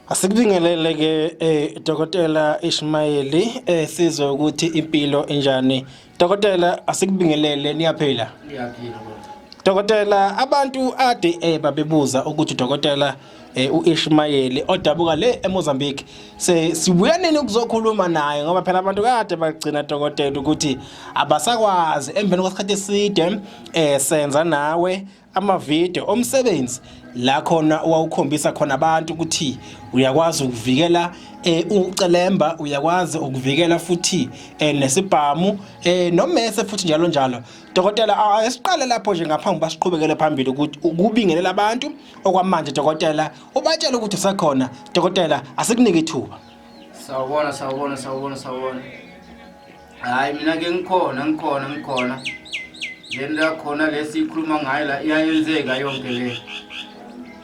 Asikubingelele ke eh Dokotela Ishmayeli eh sizwe ukuthi impilo enjani. Dokotela asikubingelele niyaphila. Niyaphila. Dokotela abantu ade eh babebuza ukuthi dokotela eh uIshmayeli odabuka le eMozambique se sibuya nini ukuzokhuluma naye ngoba phela abantu kade bagcina dokotela ukuthi abasakwazi emveni kwesikhathi eside eh senza nawe amavideo omsebenzi la khona wawukhombisa khona abantu ukuthi uyakwazi ukuvikela eh ucelemba uyakwazi ukuvikela futhi eh nesibhamu eh nomese futhi njalo njalo dokotela asiqale lapho nje ngaphambi basiqhubekele phambili ukuthi ukubingelela abantu okwamanje dokotela ubatshela ukuthi usekhona dokotela asikunike ithuba sawubona sawubona sawubona sawubona hayi mina ke ngikhona ngikhona ngikhona le nto yakhona le siyikhuluma ngayo la iyayenzeka yonke le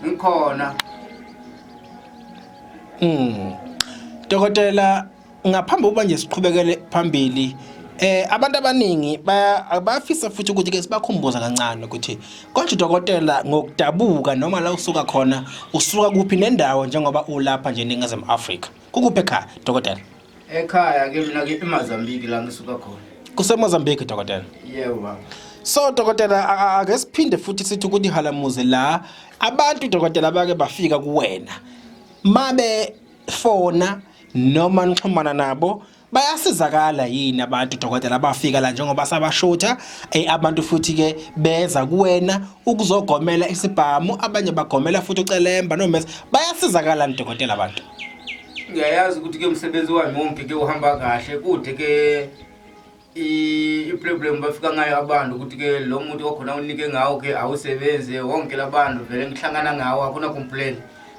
ngikhona Mm. Dokotela ngaphambi ukuba nje siqhubekele phambili eh abantu abaningi bayafisa futhi ukuthi ke sibakhumbuza kancane ukuthi konje dokotela ngokudabuka noma la usuka khona usuka kuphi nendawo njengoba ulapha nje eNingizimu Afrika kukuphi ekhaya dokotela Ekhaya ke mina ke eMozambique la ngisuka khona. KuseMozambique dokotela. Yebo baba. So dokotela a- a- ake siphinde futhi sithi ukuthi halamuze la abantu dokotela bake bafika kuwena. Mabe fona noma nixhumana nabo bayasizakala yini abantu dokotela abafika la njengoba sabashutha eh, abantu futhi ke beza kuwena ukuzogomela isibhamu abanye bagomela futhi ucelemba nomesa bayasizakala ni dokotela abantu ngiyayazi ukuthi ke umsebenzi wami wonke ke uhamba kahle kude ke iproblem bafika ngayo abantu ukuthi ke lo muntu okhona unike ngawo ke awusebenzi wonke labantu vele ngihlangana ngawo akuna complain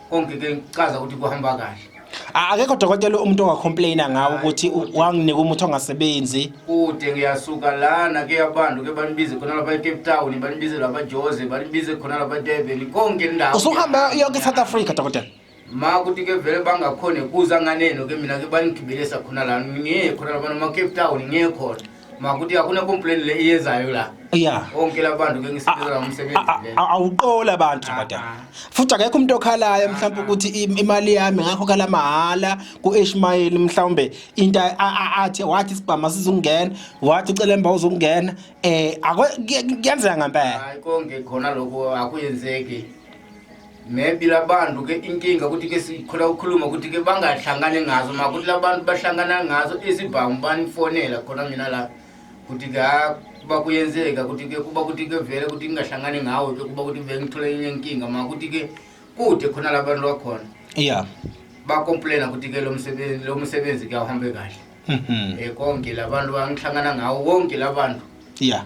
konke ke ngicaza ukuthi kuhamba kahle akekho dokotela umuntu ongacomplaina ngawo ukuthi wanginika umuthi ongasebenzi kude ngiyasuka lana ke abantu ke banibize khona lapha ecape town banibize lapha jose banibize khona lapha durban konke indawo usuhamba yonke esouth africa dokotela ma kuti ke vele bangakhone kuza nganeno ke mina ke banigibelisa khona la ngeke khona la ma Cape Town ngeke khona ma kuti akuna complaint le iyezayo la yeah onke labantu ke ngisebenzela umsebenzi le awuqola abantu ah, madam ah. futhi akekho umuntu okhalayo ah, mhlawumbe ukuthi imali yami ngakho kala mahala ku Ishmael mhlawumbe into athi wathi sibhama sizungena wathi ucelemba uzungena eh akuyenzeka ngempela hayi konke khona lokho akuyenzeki maybe labantu ke inkinga ukuthi ke sikhula ukukhuluma ukuthi ke bangahlangani ngazo ma ukuthi labantu bahlangana ngazo izibhamu banifonela khona mina la ukuthi ke ha kuba kuyenzeka ukuthi ke kuba ukuthi ke vele ukuthi ngingahlangani ngawo ke kuba ukuthi vele ngithole enye inkinga ma ukuthi ke kude khona labantu bakhona ya bakomplaina ukuthi ke lo msebenzi lo msebenzi kuyawuhambe kahle um konke labantu bangihlangana ngawo wonke labantu ya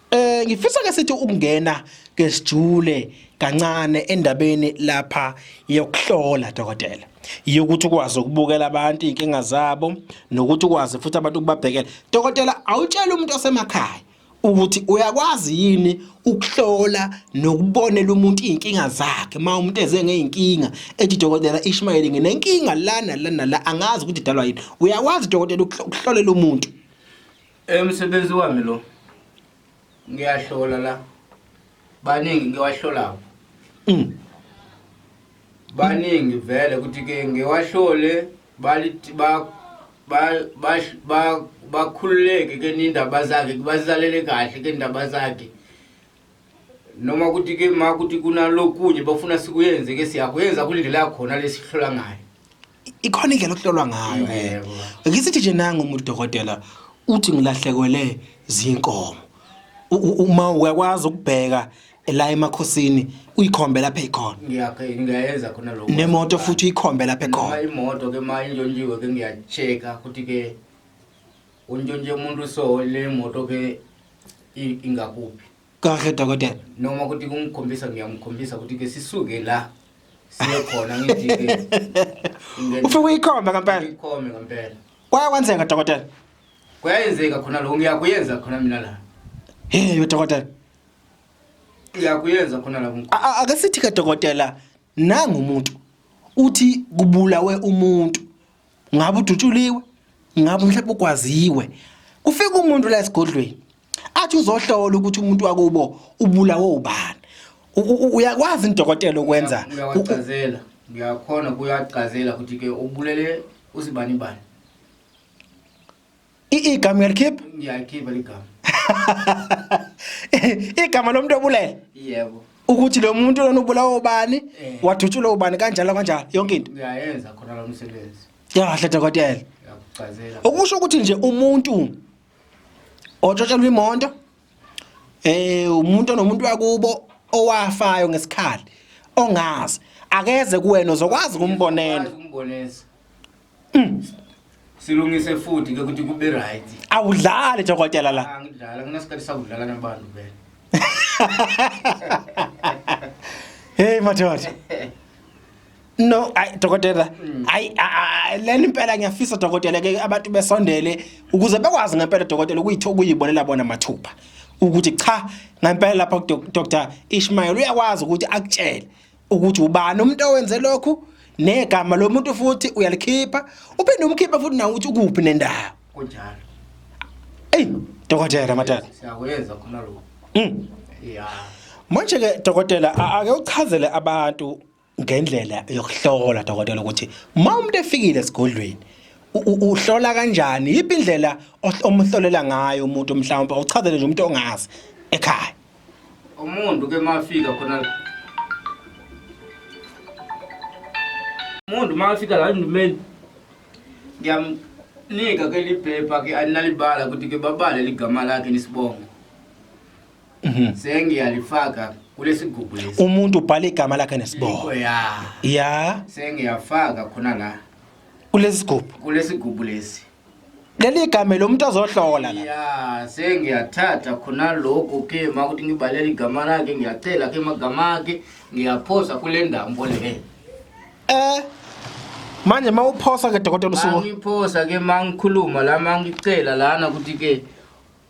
Eh ngifisa ke sithi ukungena ke sijule kancane endabeni lapha yokuhlola dokotela yokuthi ukwazi ukubukela abantu inkinga zabo nokuthi ukwazi futhi abantu ukubabhekela dokotela awutshela umuntu osemakhaya ukuthi uyakwazi yini ukuhlola nokubonela umuntu izinkinga zakhe uma umuntu eze ngeinkinga ethi dokotela Ishmael nginenkinga lana lana la angazi ukuthi idalwa yini uyakwazi dokotela ukuhlolela umuntu Umsebenzi wami lo ngiyahlola la baningi ngiwahlolayo mm. baningi vele ukuthi ke ngiwahlole balithi ba bakhululeke ke nindaba zakhe bazalele kahle ke ndaba zakhe noma ukuthi ke ma ukuthi kunalokunye bafuna sikuyenze ke siyakuyenza kule ndlela yakhona lesihlola ngayo ikhona indlela okuhlolwa ngayo eh ngisithi nje nangu umuntu dokotela uthi ngilahlekwele zinkomo U- u- uma uyakwazi ukubheka la emakhosini uyikhombe lapha ekhona ngiyakhe ngiyayenza khona lokho nemoto futhi uyikhombe lapha ekhona noma imoto ke ma intshontshiwe ke ngiyacheka ukuthi ke untshontshe umuntu so le moto ke i- ingakuphi kahle dokotela noma ukuthi kungikhombisa ngiyamkhombisa ukuthi ke sisuke la siye khona ngijike ufike uyikhombe ngempela ikhombe ngempela kwaye kwenzeka dokotela kuyayenzeka khona lokho ngiyakuyenza khona mina la hey dokotela ngiyakuyenza khona la ake sithi ke dokotela Nangu umuntu uthi kubulawe umuntu ngabe udutshuliwe ngabe mhlawumbe ugwaziwe kufika umuntu la esigodlweni athi uzohlola ukuthi umuntu wakubo ubulawe ubani uyakwazi indokotela ukwenza uyacazela uyakhona kuyacazela ukuthi ke ubulele usibani bani igama uyalikhipha ngiyalikhipha ligama igama lomuntu obulele yebo ukuthi lo muntu lona ubulawa ubani eh. wathutshulwa ubani kanjalo kanjalo yonke into ngiyayenza khona lo msebenzi yahle dokotela yakuchazela okusho ukuthi nje umuntu otshotshelwa imonto eh umuntu onomuntu wakubo owafayo ngesikhali ongazi akeze kuwena uzokwazi ukumbonela ukumbonela Mm. Silungise futhi ke ukuthi kube right. Awudlale jokotela la. Angidlala kunesikhathi sakudlala nabantu vele. Hey madoda. No, ay dokotela. Mm. Ay lena impela ngiyafisa dokotela ke abantu besondele ukuze bekwazi ngempela dokotela ukuyithoka ukuyibonela bona mathupha. Ukuthi cha ngempela lapha Dr. Ishmael uyakwazi ukuthi akutshele. ukuthi ubani umuntu owenze lokhu negama lomuntu futhi uyalikhipha uphinde umkhipha futhi nawe uthi ukuphi nendawo kunjalo ey dokotela matata siyakuyenza khona lokho mm yeah manje ke dokotela ake uchazele abantu ngendlela yokuhlola dokotela ukuthi uma umuntu efikile esigodlweni uhlola kanjani yiphi indlela omhlolela ngayo umuntu mhlawumbe uchazele nje umuntu ongazi ekhaya Umuntu ke mafika khona la. Umuntu mafika la ndimeni. Ngiyamnika ke liphepha ke aninalibala ukuthi ke babale ligama lakhe nisibongo. Mhm. Sengiyalifaka kulesigubhu lesi. Umuntu ubhala igama lakhe nesibongo. Ya. Ya. Sengiyafaka khona la. Kulesigubhu. Kulesigubhu lesi. leli igama lo muntu ozohlola la ya sengiyathatha khona lokho ke makuthi ngibalela igama lakhe ngiyacela ke magama akhe ngiyaphosa kule ndambo le eh manje mawuphosa ke dokotela usuku mangiphosa ke mangikhuluma la mangicela lana ukuthi ke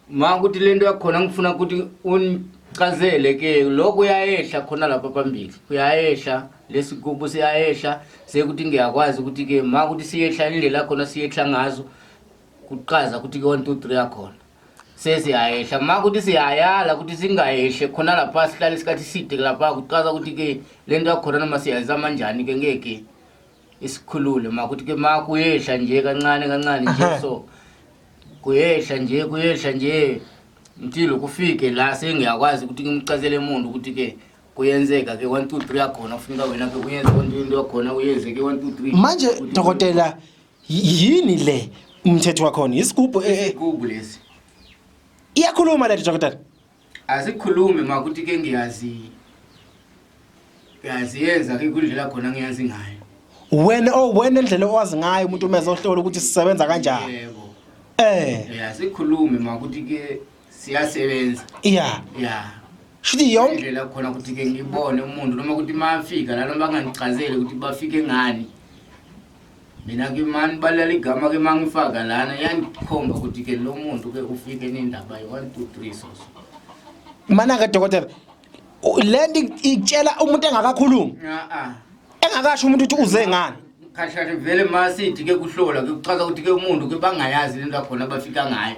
ma ukuthi lento yakhona ngifuna ukuthi unichazele ke lokho uyayehla khona lapha phambili uyayehla lesigubu siyayehla sekuthi ngiyakwazi ukuthi ke ma ukuthi siyehla indlela khona siyehla ngazo kuqaza ukuthi ke 1 2 3 yakhona sesiyayehla ma ukuthi siyayala ukuthi singayehle khona lapha sihlale isikhathi side lapha kuqaza ukuthi ke lento yakhona noma siyayizama njani ke ngeke isikhulule makuthi ke ma kuyehla nje kancane kancane nje so kuyehla nje kuyehla nje ntilo kufike la sengiyakwazi ukuthi ngimcazele umuntu ukuthi ke kuyenzeka ke 1 2 3 yakhona kufuneka wena ke uyenze konke into yakhona uyenze ke 1 2 3 manje dokotela yini le umthetho wakhona isigubhu e- e- isigubu lesi iyakhuluma le dokotela Asikhulume ma ukuthi ke ngiyazi ngiyazi yenza ke kundlela khona ngiyazi ngayo. Wena oh wena indlela owazi ngayo umuntu uma ezohlola ukuthi sisebenza kanjani. Yebo. Eh. Yeah, sikhulume ma ukuthi ke siyasebenza. Yeah. Yeah. Shithi yonke indlela khona ukuthi ke ngibone umuntu noma ukuthi mafika la noma bangangichazele ukuthi bafike ngani. mina ke mani balala igama ke mangifaka lana yandikhomba ukuthi ke lo muntu ke ufike nendaba yi-one two three soso manake dokotela le nto itshela umuntu engakakhulumi a-a engakasho umuntu ukuthi uze ngani khashashe vele ma sithi ke kuhlola ke kuchaza ukuthi ke umuntu ke bangayazi le nto yakhona abafika ngayo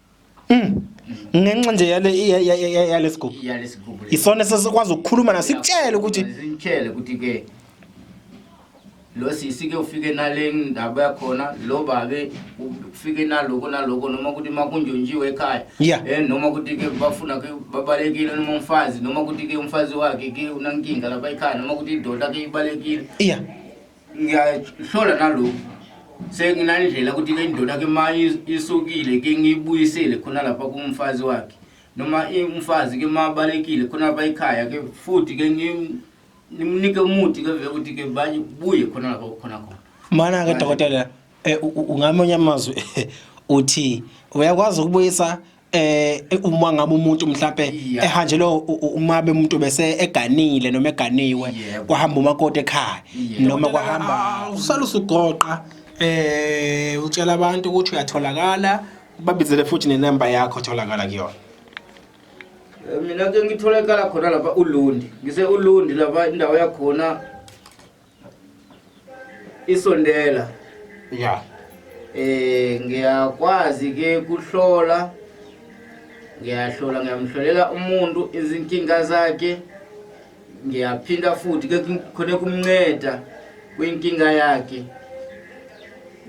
Mm. Ngenxa nje yale yalesigubu. Yalesigubu. Isona sesikwazi ukukhuluma na sikutshele ukuthi sikutshele ukuthi ke lo sisi ke ufike nale ndaba yakhona lo babe ufike naloko naloko noma ukuthi makunjonjiwe ekhaya yeah. eh noma ukuthi ke bafuna ke babalekile noma umfazi noma ukuthi ke umfazi wakhe ke unankinga lapha ekhaya noma ukuthi idoda ke ibalekile yeah ngiyahlola nalokhu senginandlela ukuthi ke indoda ke ma isukile ke ngiyibuyisele khona lapha kumfazi wakhe noma umfazi ke ma balekile khona lapha ekhaya ke futhi ke ngimnike umuthi ke vele ukuthi ke babuye khona lapha khona khona mana ke dokotela eh, ungamonye amazwi uthi uyakwazi ukubuyisa eh uma ngabe umuntu mhlambe ehanjelwe uma bemuntu bese eganile noma eganiwe kwahamba umakoti ekhaya noma kwahamba ah, usala usugoqa eh utshela abantu ukuthi uyatholakala babizele futhi nenamba yakho tholakala kuyona eh, mina ke ngitholakala khona lapha ulundi ngise ulundi lapha indawo yakhona isondela ya eh ngiyakwazi ke kuhlola ngiyahlola ngiyamhlolela umuntu izinkinga zakhe ngiyaphinda futhi ke khona kumnceda kwinkinga yakhe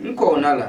ngikhona la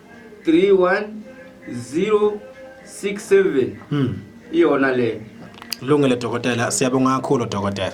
31067 hmm. iyona le lungile dokotela siyabonga kakhulu dokotela